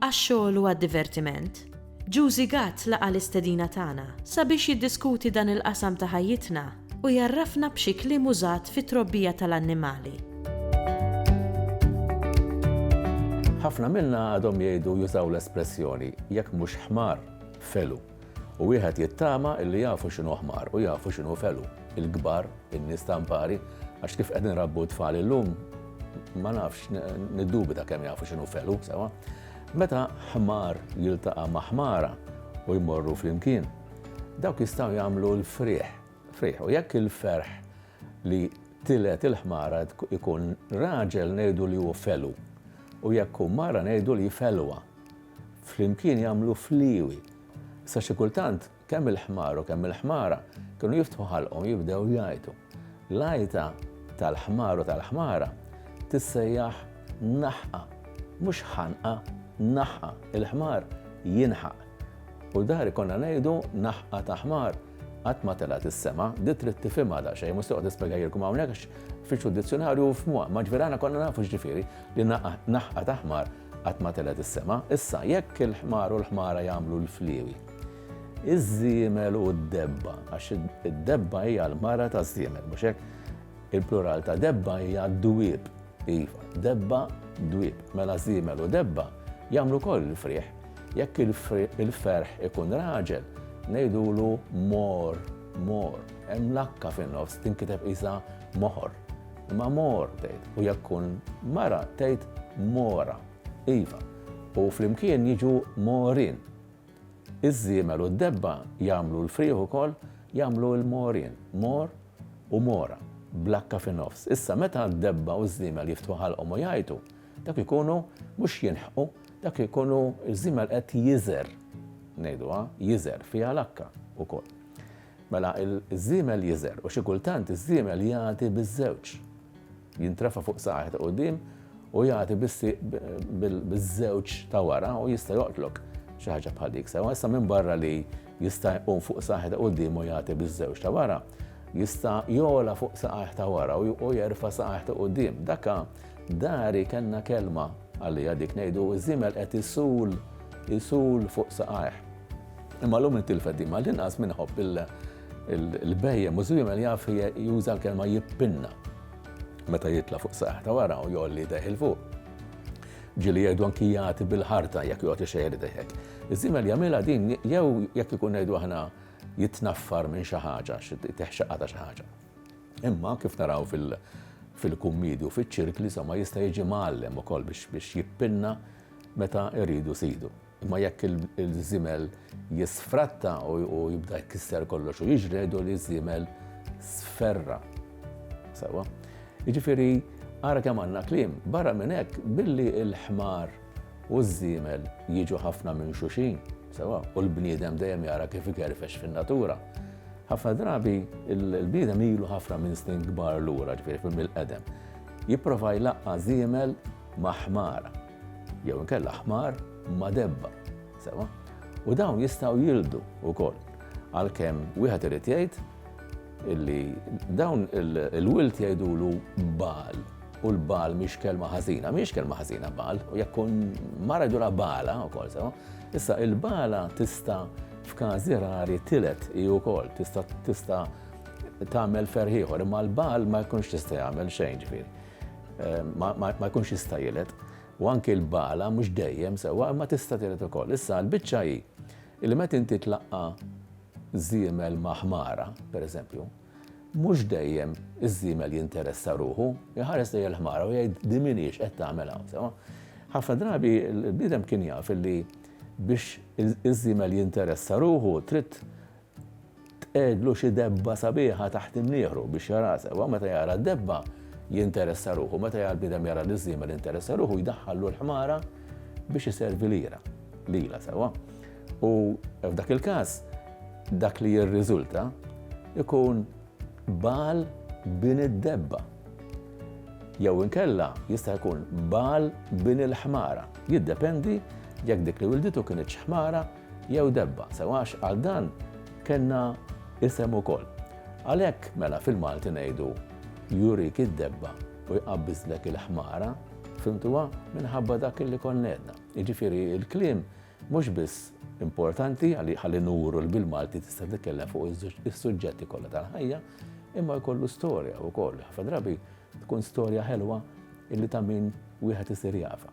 għax-xogħol u għad-divertiment, Juzi Gatt laqa' l-istedina tagħna sabiex jiddiskuti dan il-qasam ta' ħajjitna u jgħarrafna b'xi kliem użat fit-trobbija tal-annimali. Ħafna minna għadhom jgħidu u jużaw l-espressjoni, jekk mhux ħmar, felu. U wieħed jittama illi jafu x'inhu ħmar u jafu x'inhu felu, il-kbar, in-nies ta' mpari, għax kif qed inrabbu t-tfal illum, ma nafx, niddubita kemm jafu x'inhu felu sewa. Meta ħmar jiltaqa' ma' ħmara u jmorru flimkien, dawk jistgħu jagħmlu l-frieħ, frieħ. U jekk il-ferħ li tilgħet il-ħmara jkun raġel ngħidu li hu felu, u jekk hu mara ngħidu li felwa. Flimkien jagħmlu fliewi. Sa xi kultant kemm il-ħmar u kemm il-ħmara kienu jiftħu ħalqhom jibdew jgħajtu. L-għajta tal-ħmar u tal-ħmara tissejjaħ naħqa, mhux ħanqa, naħqa, il-ħmar jinħaq. U dari konna ngħidu naħqa ta' ħmar qatt ma telgħet is-sema, di trid tifhimha daqsxejn, mhux toqgħod nispjegajilkom hawnhekk għax fittxu d-dizzjonarju u fhmuha, ma ġverana konna nafu x'ġifieri li naħqa ta' ħmar Qatt ma telgħet is-sema. Issa, jekk il-ħmar u l-ħmara jagħmlu l-fliewi, iż-żiemel u d-debba, għax id-debba hija l-mara taż-żiemel, mhux hekk? Il-plural ta' debba hija d-dwieb. Iva, debba, dwieb. Mela żiemel u debba jagħmlu koll il-frieħ. Jekk il-ferħ ikun raġel, ngħidulu mor, mor. Hemm lakka fin-nofs tinkiteb isa moħor. Imma mor tgħid, u jekk tkun mara tgħid mora. Iva, u flimkien jiġu morien. Iż-żiemel u d-debba jagħmlu l-frieħ ukoll jagħmlu l-morien, mor u mora, bl-akka fin-nofs. Issa meta d-debba u ż-żiemel jiftħu ħalqhom u jgħajtu, dak ikunu mhux jinħqu, dak ikunu ż-żiemel qed jiżgħer, ngħiduha, jiżgħer fiha l-akka ukoll. Mela ż-żiemel jiżgħer u xi kultant iż-żiemel jagħti biż-żewġ. Jintrefa' fuq saqajh ta' quddiem u jagħti bis-sieq biż-żewġ ta' wara u jista' joqtlok. Xi ħaġa bħal dik sewwa. Issa minbarra li jista' jqum fuq saqajh ta' quddiem u jagħti biż-żewġ ta' wara, jista' jogħla fuq saqajh ta' wara u jerfa' saqajh ta' quddiem. Daka dari kellna kelma għaliha dik ngħidu ż-żiemel qed isul, isul fuq saqajh. Imma llum intilfet din mal-inqas min iħobb il-bhejjem u żwiemel jaf juża l-kelma jippinna meta jitla' fuq saqajh ta' wara u jgħolli idejh 'il fuq. Ġieli jgħidu anki jagħti bil-ħarta jekk joqgħod ixejjer idejh hekk. Iż-żiemel jagħmilha din jew jekk ikun ngħidu aħna jitnaffar minn xi ħaġa, jtih xaqqa ta' xi ħaġa. Imma kif naraw fil-kummidi u fiċ-ċirkli somma jista' jiġi mgħallem ukoll biex jippinna meta jridu sidu. Imma jekk il-żimel jisfratta u jibda jkisser kollox u jiġredu li żimel sferra. Sawa? Jiġifieri ara kemm għandna kliem, barra minn hekk billi l-ħmar u ż-żiemel jiġu ħafna minn xuxin, sawa, u l-bniedem dejjem jara kif ikerfex fin-natura. Ħafna drabi l-bniedem ilu ħafna minn snin kbar lura, ġifieri mill-qedem. Jipprova jlaqqa' żiemel ma' ħmara. jew inkella ħmar ma' debba. Sewa? U dawn jistgħu jildu wkoll. Għalkemm wieħed irid jgħid illi dawn il-wilt jgħidulu bal u l-bal miex kelma ħażina, miex kelma ħażina bal, u jekk mara jdura bala wkoll sewa. Issa il-bala tista' f'każi rari tilet hi wkoll tista' tista' tagħmel ferħieħor, imma l-bal ma jkunx tista' jagħmel xejn ġifieri. ma jkunx jista' jiled. U anki l-bala mhux dejjem sewwa imma tista' tiled ukoll. Issa l-biċċa hi li meta inti tlaqqa' żiemel ma' ħmara, pereżempju, mhux dejjem iż-żiemel jinteressa ruħu, jħares lejn il-ħmara u jgħid din min hix qed tagħmel hawn sewwa. Ħafna drabi l-bniedem kien jaf li biex iż-żiemel jinteressa ruħu trid Tqegħedlu xi debba sabiħa taħt imnieħru biex jaraha sewwa. Meta jara d-debba, jinteressa ruħu. Meta jara l-bniedem jara liż-żiemel jinteressa ruħu u jdaħħallu l-ħmara biex iservi lira, lilha sewwa. U f'dak il-każ, dak li jirriżulta jkun bagħal bin id-debba. Jew inkella jista' jkun bagħal bin il-ħmara. Jiddependi jekk dik li wilditu kinitx ħmara jew debba, sew għax għal dan kellna isem ukoll. Għalhekk mela fil-Malti ngħidu jurik id-debba u jqabbiżlek il-ħmara, fhimtuha? Minħabba dak li konna għedna. Jiġifieri l-kliem mhux biss importanti għalli ħalli nuru li bil-Malti tista' titkellem fuq is-suġġetti kollha tal-ħajja, imma jkollu storja wkoll. Ħafna drabi tkun storja ħelwa illi ta' min wieħed isir jafa.